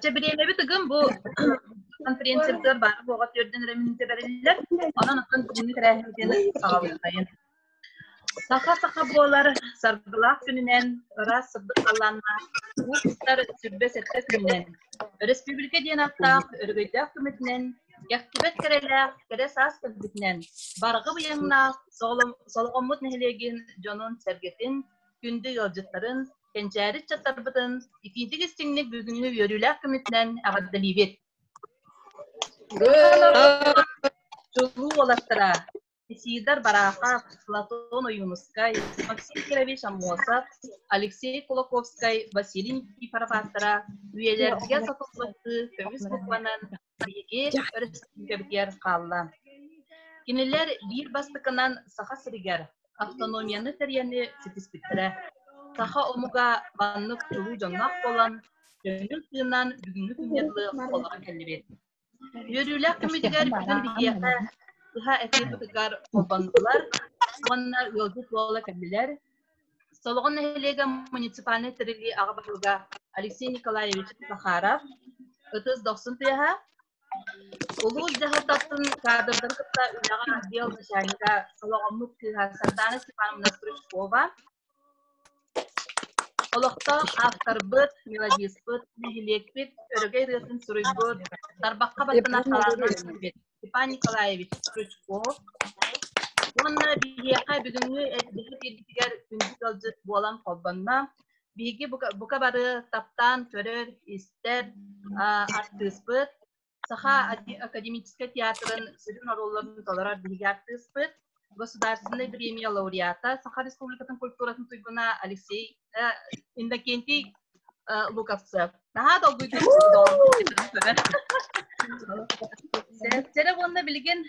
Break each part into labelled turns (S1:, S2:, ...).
S1: Дьэ, бириэмэбит ыгым бу конференциябытыгар баара буоҕа түөрдэн эрэ мүнүүтэ бэриллэр. Онон оттон бүгүҥҥү тэрээһинтиэни саҕалыахтайын. Саха саха буолар саргылаах күнүнэн, ыраас сырдык халлааннаах уустар сүрбэ сэттэ күнүнэн, өрөспүүбүлүкэ диэн аттаах өрөгөйдөөх көмөтүнэн, кэхтибэт кэрэлээх кэрэ саас көтүбүтүнэн, барҕы быйаҥнаах солоҕоммут нэһилиэгин дьонун-сэргэтин, күндү ыалдьыттарын, Кэнчээри ыччаттарбытын итиитик истиҥник бүгүҥҥү үөрүүлээх көмүтүнэн эҕэрдэлиибит! Чулуу уолаттара Исидар Барахов, Платон Ойуунускай, Максим Кирович Аммосов, Алексей Кулаковскай, Василий Никифоров ааттара үйэлэргэ сотуллубаттыы көмүс букванан Биһиги өрөспүүбүлүкэбитигэр хаалла. Кинилэр биир бастакынан Саха сиригэр автономияны тэрийэни ситиспиттэрэ. Саха омуга маннык чулуу дьонноох буолан, көҥүл тыынан бүгүҥҥү күҥҥэ дылы олоро кэллибит. Үөрүүлээх түмүгүгэр бүгүн биһиэхэ сыха этникатыгар холбоннулар уонна ыалдьыт буола кэллилэр, Солоҕон нэһилиэгэ муниципальнай тэриллии аҕа баһылыга Алексей Николаевич Захаров, ытыс дохсун тыаһа, улуус дьаһалтатын каадырдарын кытта үлэҕэ отдел начальнига Солоҕоммут кыыһа Сардана Степановна Стручкова, олохтоох авторбыт, мелодиспыт, нэһилиэкпит, өрөгөй ырыатын суруйбут, тарбахха баттана талааннаах Степан Николаевич Крючков уонна биһиэхэ бүгүҥҥү эддэһэ биэргитигэр күндү ыалдьыт буолан холбонно. Биһиги бука, бука бары таптаан көрөр, истэр а, артыыспыт, Саха академическай театрын сүрүн оруолларын толорор биһиги артыыспыт. государственный премия лауреата Саха Республикатын культуратын туйгуна Алексей э, Иннокентий э, Луковцев. Наһаа долгуйдum Сэрэ уонна билигин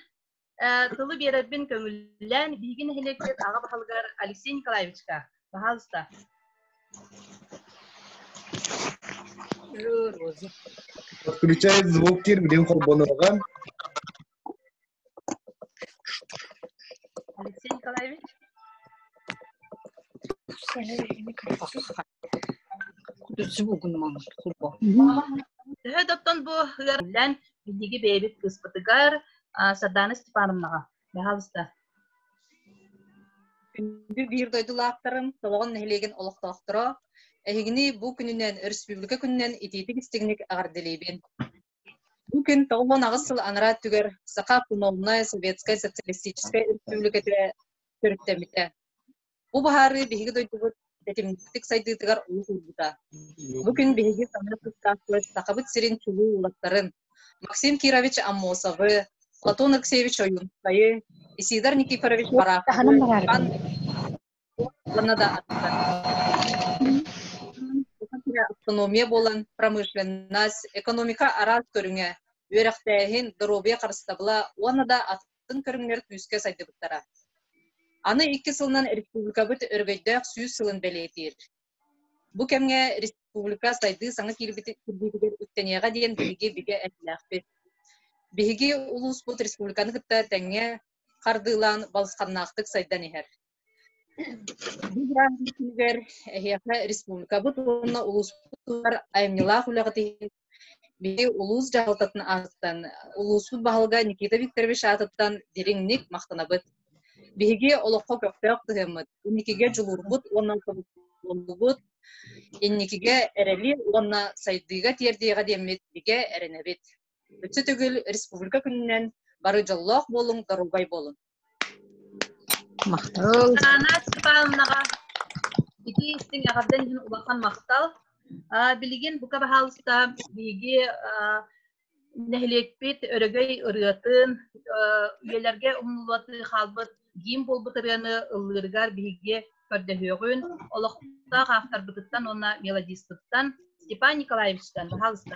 S1: тылы биэрэрбин көҥүллээн биһиги нэһилиэкпит аҕа баһылыгар Алексей Николаевичка пожалуйста
S2: Включай звук кир билин холбонорган
S1: Алексей Николаевич? Кутуччу бугунман курбо. Төһө доттон бу ыарыллан биһиги бэйэбит кыыспытыгар Сардана Степановнаҕа баһалыста.
S3: Биир дойдулаахтарым, Толоҕон нэһилиэгин олохтоохторо, эһигини бу күнүнэн, өрөспүүбүлүкэ күнүнэн итиитик-истигник аҕардылиибин. Бу күн тоҕус уон аҕыс сыл анараа өттүгэр Саха Автономнай Советскай Социалистическай Өрөспүүбүлүкэтэ төрүттэммитэ. Бу быһаарыы биһиги дойдубут тэтимник сайдыытыгар олус уурбута. Бу күн биһиги санаа тустаахпыт Сахабыт сирин чулуу уулаттарын Максим Кирович Аммосовы, Платон Алексеевич Ойуунускайы, Исидар Никифорович Марафовы, Уонна да автономия буолан промышленность, экономика араас көрүҥэ, үөрэхтээһин, доруобуйа харыстабыла уонна да атын көрүҥнэр күүскэ сайдыбыттара. Аны икки сылынан республикабыт өрөгөйдөөх сүүс сылын бэлиэтиир. Бу кэмҥэ республика сайдыы саҥа киирбитигэр үктэниэҕэ диэн биһиги бигэ этилээхпит. Биһиги улууспут республиканы кытта тэҥҥэ хардыылаан балысханнаахтык сайдан иһэр. Бу бырааһын күнүгэр эһиэхэ республикабыт уонна улууспутугар айымньылаах үлэҕит иһин биһи улуус дьаһалтатын аатыттан, улууспут баһылыга Никита Викторович аатыттан дириҥник махтанабыт. Биһиги олоххо көхтөөх тыһыммыт, инникигэ дьулуурбут уонна тобуллубут, инникигэ эрэли уонна сайдыыга тиэрдиэҕэ диэммит бигэ эрэнэбит. Өссө төгүл республика күнүнэн бары дьоллоох буолуҥ, доруобай буолуҥ.
S4: Махтал. Аана
S1: Степановнаҕа ити истиҥ эҕэрдэн иһин улахан махтал. Аа, билигин бука баһаалыста биһиги аа, нэһилиэкпит өрөгөй ырыатын, аа, үйэлэргэ умнуллубатыы хаалбыт гимн буолбут ырыаны ыллыырыгар биһиги көрдөһүөҕүн. Олохтоох авторбытыттан уонна мелодистыттан Степан Николаевичтан, баһаалыста.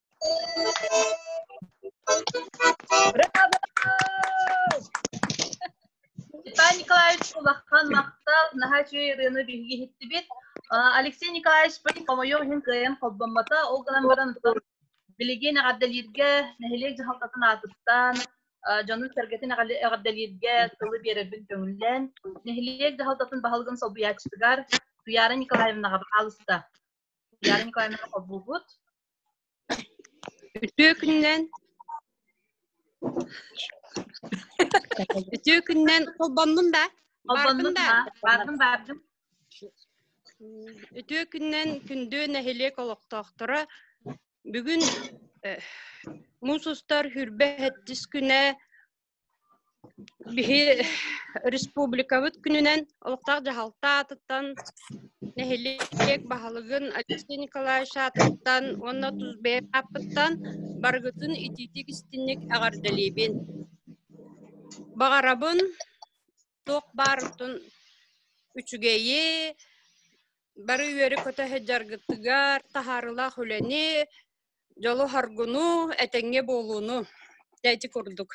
S1: Николай Николаевич улахан махтал наһаа үчүгэй ырыаны биһиги иһиттибит Алексей Николаевичпын хомойуом иһин кыайан холбоммото ол гынан баран билигин эҕэрдэлииргэ нэһилиэк дьаһалтатын аатыттан дьонун-сэргэтин эҕэрдэлииргэ тылы биэрэрбин көҥүллээн нэһилиэк дьаһалтатын баһылыгын солбуйааччытыгар Туяра Николаевнаҕа хаалыста Илья Николаевнаны хоббуубут. Үтүө күннэн
S5: үтүө күннэн холбоннум да. Холбоннум да. Бардым бардым.
S1: Үтүө
S5: күннэн күндү нэһилиэк олохтоохторо бүгүн муус устар хүрбэ хэттис күнэ Биһи республикабыт күнүнэн олохтоох дьаһалта аатыттан нэһилиэк баһылыгын Алексей Николаевич аатыттан уонна тус бэйэм ааппыттан барыгытын итиитик-истинник эҕэрдэлиибин. Баҕарабын туох баарытын үчүгэйи, бары үөрү-көтө сылдьаргытыгар таһаарылаах үлэни, дьолу харгуну этэҥҥэ буолууну дээти курдук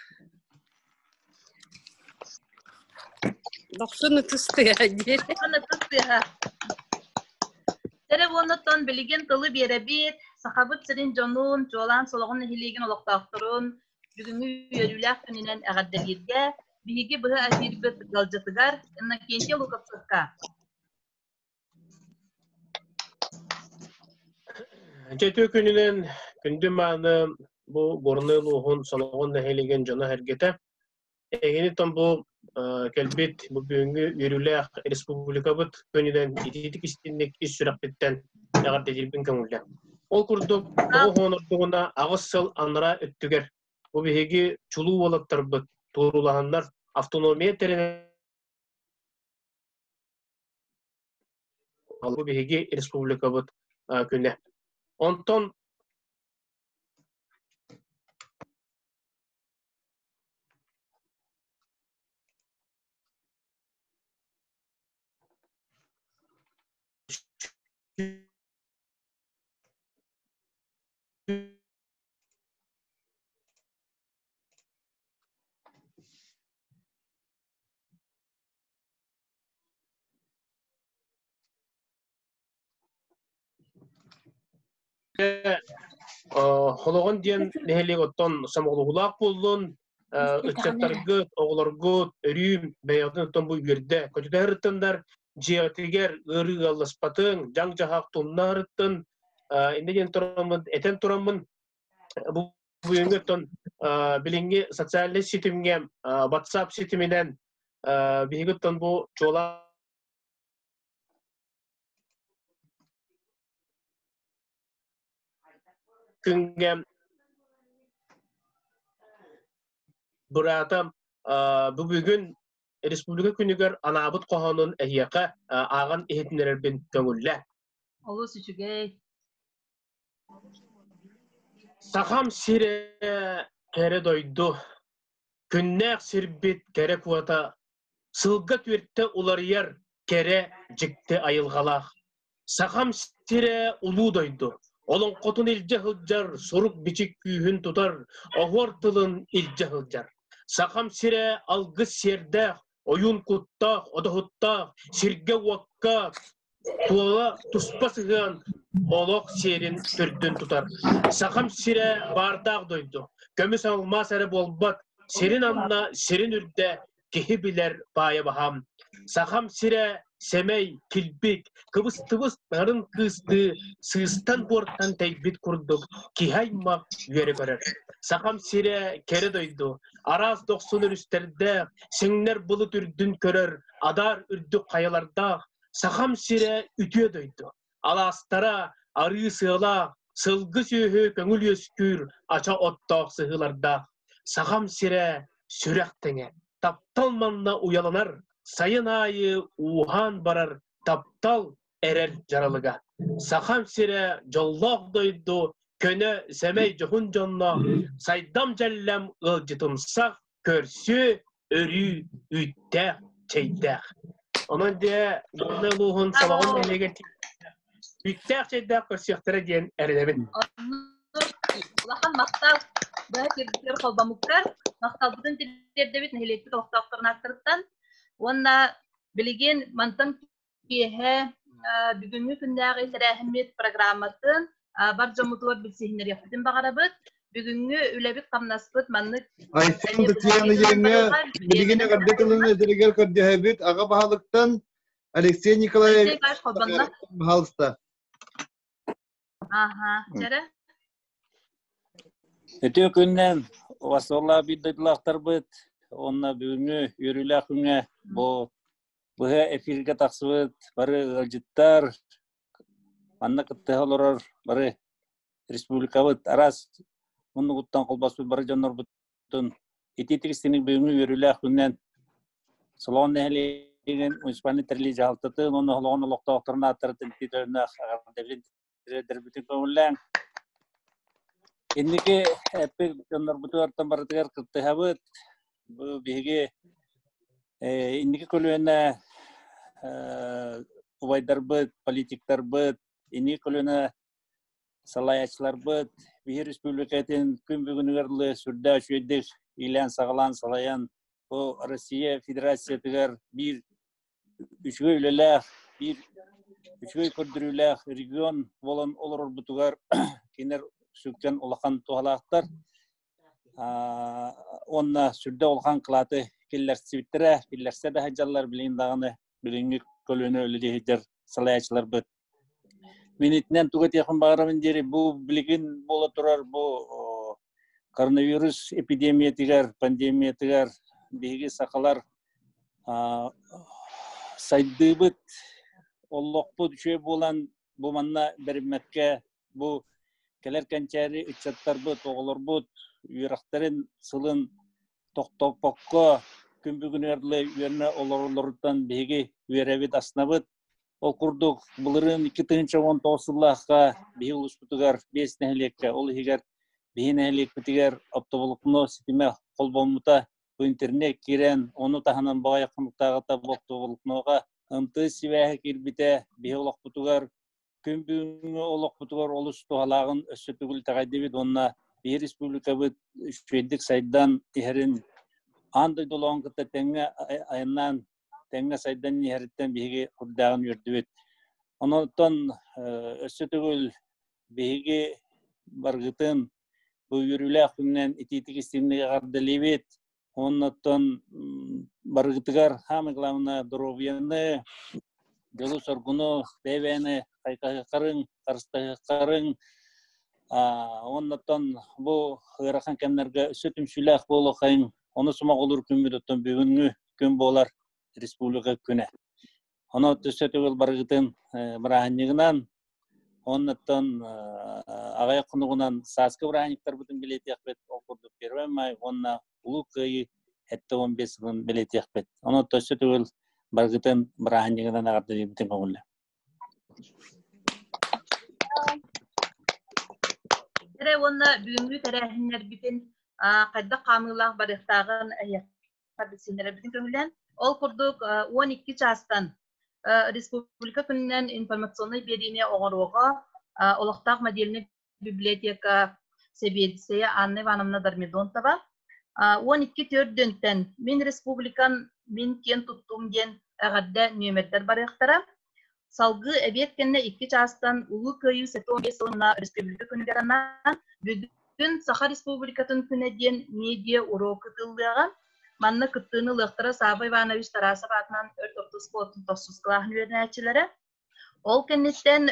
S5: дохсун ытыс тыаха диир ытыс тыаха
S1: Тере уонуттан билигин тылы биэрэбит Сахабыт сирин дьонун, чуолаан Солоҕун нэһилиэгин олохтоохторун бүгүҥҥү үөрүүлээх күнүнэн эҕэрдэлииргэ биһиги быһа эфирбит ыалдьытыгар Иннокентий Луковцевка
S6: Дьэ, үтүө күнүнэн күндү мааны бу Горнай улууһун Солоҕон нэһилиэгин дьоно-сэргэтэ. Эгини том бу кэлбит бу бүгүҥҥү үөрүүлээх республикабыт күнүнэн итиитик истинник ис сүрэхпиттэн эҕэрдэтиирбин көҥүллэн. Ол курдук оҕо хоонордугуна аҕыс сыл анараа өттүгэр бу биһиги чулуу уолаттарбыт туруулаһаннар автономия тэринэн Бу биһиги республикабыт күнэ. Онтон Холоҕон диэн нэһилиэк оттон сомоҕолоһуулаах буоллун, ыччаттаргыт, оҕолоргут өрүүм бэйэҕитин оттон бу үгүрдэ көтүтэһэртыннар, дьиэҕитигэр ыарыы ыалласпатын, дьаҥ-дьаһаах тумнаһарыттын, инде диэн тураммын, этэн тураммын, бу бүгүҥҥү оттон билиҥҥи социальнай ситимҥэ WhatsApp ситиминэн биһиги оттон бу чуолаан күҥҥэ быраата бүгүн республика күнүгэр анаабыт хоһоонун эһиэхэ ааҕан иһитиннэрэрбин көҥүллэ Олус үчүгэй. Сахам сирэ кэрэ дойду, күннээх сирбит кэрэ куота, сылга түөртэ уларыйар кэрэ дьикти айылҕалаах. Сахам сирэ улуу дойду, олоҥхотун илдьэ сылдьар, сурук-бичик күүһүн тутар, оһуор тылын илдьэ сылдьар. Сахам сирэ алгыс сиэрдээх, ойуун куттаах, одоһуттаах, сиргэ-уокка туола туспа сыһыан олох сиэрин төрдүн тутар. Сахам сирэ баардаах дойду, көмүс алмаас эрэ буолбат, сирин анна, сирин үрдэ киһи билэр баайа баһам. Сахам сирэ сэмэй, килбик, кыбыстыбыс барын кыыстыы сыыстан-буортан тэйбит курдук киһи-аймах үөрэ көрөр. Сахам сирэ кэрэ дойду, араас дохсун өрүстэрдээх, сиҥнэр былыт үрдүн көрөр адаар үрдүк хайалардаах Сахам сирэ үтүө дойду. алаастара арыы сыала сылгы сүөһү көҥүл үөскүүр ача оттоох сыһыылардаах сахам сирэ сүрэх тэҥэ таптал манна уйаланар сайын аайы ууһаан барар таптал эрэр дьаралыга сахам сирэ дьоллоох дойду көнө сэмэй дьоһун дьонно сайдам дьэллэм ыалдьытымсах көрсү, өрүү үүттээх, чэйдээх. Онон дьэ, Горнай улууһун Салаҕын нэһилиэгэр үүттээх, чэйдээх көрсүөхтэрэ диэн эрэнэбин.
S1: Улахан махтал быһа сирдэр холбомуктар махталбытын тириэрдэбит нэһилиэкпит олохтоохторун ааттарыттан уонна билигин мантан Киэһэ бүгүҥҥү күннээҕи тэрээһиммит программатын бар дьоммутугар билсиһиннэриэхпитин баҕарабыт. Бүгүҥҥү үлэбит-хамнаспыт маннык Айсен
S2: Бытыяныгеҥҥа билигин эҕэрдэ тылын этэригэр көрдөһөбүт аҕа баһылыктан Алексей Николаевич баһалыста.
S7: Ага, дьэрэ? Өтө күннен васолла биддылахтарбыт онна бүгүнгү үөрүүлэх күнгө бу быһа эфирге тахсыбыт бары ыалдьыттар манна кыттыһа олорор бары республикабыт арас муннугуттан колбаспыт бары дьоннорбут Ити тристиник бүгүҥҥү үөрүүлээх күннэн Солон нэһилиэгин муниципальный тэрилий дьаһалтатын уонна Холоҕон олохтоохторун ааттарын тириэринэх дэрбитин көҥүллээн инники эппит дьоннорбуту артан барытыгар кыттыһабыт бу биһиги инники көлүөнэ убайдарбыт политиктарбыт инники көлүөнэ салаячыларбыт биһир республикатын күн бүгүнүгэр лы сүрдэ үчүөйдик иилээн-саҕалаан салайан бу Россия Федерациятыгар биир үчүгэй үлэлээх биир үчүгэй көрдөрүүлээх регион болон олорорбутугар кинилэр сүктен улахан туһалаахтар онна сүрдэ улахан кылааты киллэрсибиттэрэ киллэрсе да дьаллар билин даҕаны билиҥҥи көлөнө үлэ сылаячыларбыт Мин итинэн туга этиэхпин баҕарабын диэри бу билигин буола турар бу коронавирус эпидемиятыгар, пандемиятыгар биһиги сахалар сайдыыбыт, оллохпут үчүгэй буолан бу манна бэриммэккэ бу кэлэр кэнчээри ыччаттарбыт, оҕолорбут үөрэхтэрин сылын тохтопокко күн бүгүнү ырлыы үөрэнэ олоролоруттан биһиги үөрэбит аснабыт Ол курдук, былырыын икки тыһыынча уон тоҕус сыллаахха биһи улууспутугар биэс нэһилиэккэ, ол иһигэр биһи нэһилиэкпитигэр оптоволокно ситимэ холбоммута бу интернет киирэн, ону таһынан баҕайы хонуктааҕыта оптоволокноҕа ымтыы сибээһэ киирбитэ, биһи олохпутугар күн бүгүҥҥү олохпутугар олус туһалааҕын өссө төгүл итэҕэйдибит уонна биир республикабыт үчүгэйдик сайдан иһэрин аан дойдулаҕын кытта тэҥҥэ айаннаан тэҥҥэ сайдан иһэриттэн биһиги курдааҕын үөрдүбүт онон өссө төгүл биһиги баргытын бу үөрүүлээх күнүнэн итиитик истиҥник эҕэрдэлиибит Оннуттан барыгытыгар самое главное доруобуйаны, дьолу-соргуну, бэбэни хайкаһыкарың, харыстаһыкарың, оннуттан бу ыарахан кэмнерге үсү түмсүүлээх буолуохайын, ону сумаҕулуур күммүт оттон бүгүнгү күн буолар республика күнэ. Оно төссөтү ыл барыгытын бырааһынньыгынан оннуттан аҕай хонугунан сааскы бырааһынньыктарбытын билетиэхпит ол курдук первый май уонна улуу кыайыы этте он бес сылын билетиэхпит оно төссөтү ыл барыгытын бырааһынньыгынан аҕардыйбытын көҥүллэ эрэ уонна бүгүҥҥү
S1: тэрээһиннэрбитин хайдах хаамыылаах барыахтааҕын Апельсиннэрбитин көһүлэн, ол курдук он икки чаастан республика күнүнэн информационнай биэриини оҥоруоҕа олохтоох модельнай библиотека сэбиэдиссэйэ Анна Ивановна Дормидонтова он икки төрдүнтэн мин республикан мин киэн туттуум диэн эҕэрдэ нүөмэрдэр барыахтара Салгыы эбиэт кэннэ икки чаастан Улуу Кыайыы сэтиэн биэс сылына өрөспүүбүлүкэ күнүгэр анаан Бүгүн Саха Республикатын күнэ диэн медиа уруок кытыллыаҕа. Манна кыттыыны ылыахтара Саба Иванович Тарасов аатынан өрт ортоспуотун тосус клаһын үөрэнээччилэрэ. Ол кэнниттэн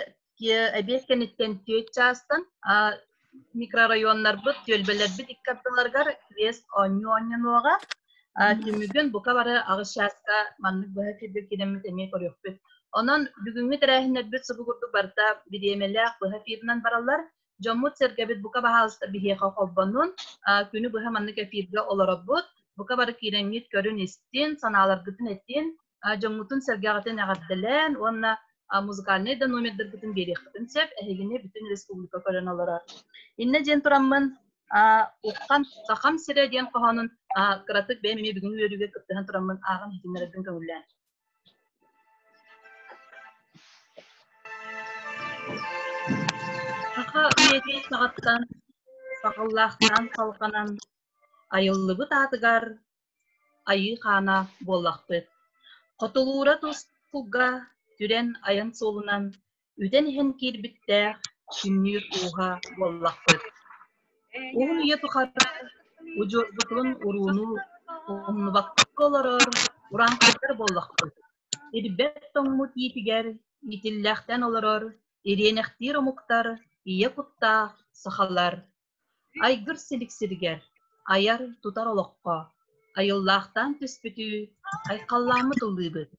S1: эбиэт кэнниттэн түөрт чаастан микрорайоннарбыт түөлбэлэрбит икки ардыларыгар квест оонньуу оонньонуоҕа түмүгүн бука бары аҕыс чааска маннык быһа киирбит киирэммит эмиэ көрүөхпүт онон бүгүҥҥү тэрээһиннэрбит субугурдук барыта бириэмэлээх быһа эфирынан бараллар дьоммут-сэргэбит бука баһаалыста биһиэхэ холбонун күнү быһа маннык эфиргэ олоробут бука бары киирэҥҥит көрүн-истин санааларгытын этин дьоҥҥутун сэргэҕитин эҕэрдэлээн уонна музыкальнай да номердаргытын биэриэххитин сөп эһигини бүтүн республика көрөн олорор иннэ диэн тураммын уххан сахам сирэ диэн хоһоонун кыратык бэйэм эмиэ бүгүн үөрүүгэ кыттыһан тураммын ааҕан иһитиннэрэрбин көҥүллээн саха үйэтин саҕаттан саҕыллаахтаан салҕанан айыллыбыт аатыгар Айыы-хаана буоллахпыт. Хотулуура тускулга түрэн айан суолунан үтэн иһэн киирбиттээх күннүүр ууһа буоллахпыт. Уһун үйэ тухары удьуорбутун урууну умнубакка олорор урааҥхайдар буоллахпыт. Ирбэт тоҥмут иитигэр иитиллээхтэн олорор ириэнэхтиир омуктар ийэ куттаах сахалар Айгыр силиксиригэр айар, тутар олоххо айыллаахтаан түспүтүү айхаллааммыт ыллыыбыт.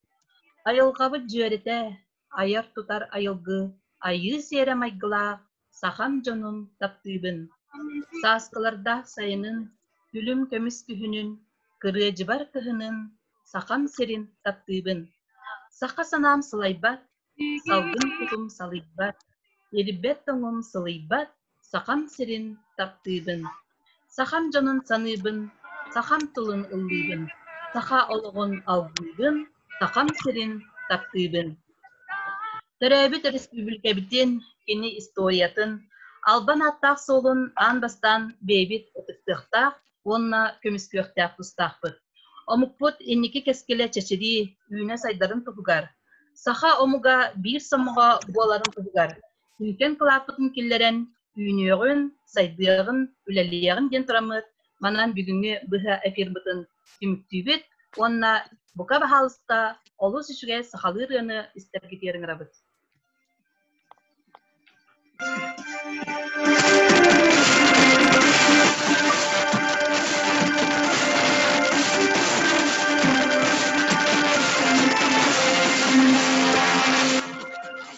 S1: Айылҕабыт дьүөрэтэ, айар-тутар айылгы айыы сиэрэ майгылаах сахам дьонун таптыыбын. Сааскылардаах сайынын, күлүм көмүс күһүнүн, кырыадьыбар кыһынын Сахам сирин таптыыбын. Саха санаам сылайбат, салгын кутум салыйбат, ирбэт тоҥум сылыйбат, Сахам сирин таптыыбын, сахам дьонун саныыбын, сахам тылын ыллыыбын, саха олоҕун алгыыбын, сахам сирин таптыыбын. Төрөөбүт өрөспүүбүлүкэбитин, кини историятын, албан ааттаах суолун аан бастаан бэйэбит ытыктыахтаах уонна көмүскүөхтээх тустаахпыт. Омукпут инники кэскилэ чэчирии, үүнэ сайдарын туһугар, саха омуга биир сомоҕо буоларын туһугар Түүтэн кылааппытын киллэрэн, үүнүөҕүн, сайдыаҕын, үлэлиэҕин диэн тураммыт манан бүгүҥҥү быһа эфирбытын түмүктүүбүт уонна бука баһаалыста олус үчүгэй сахалыы ырыаны истэргитиэр ыҥырабыт.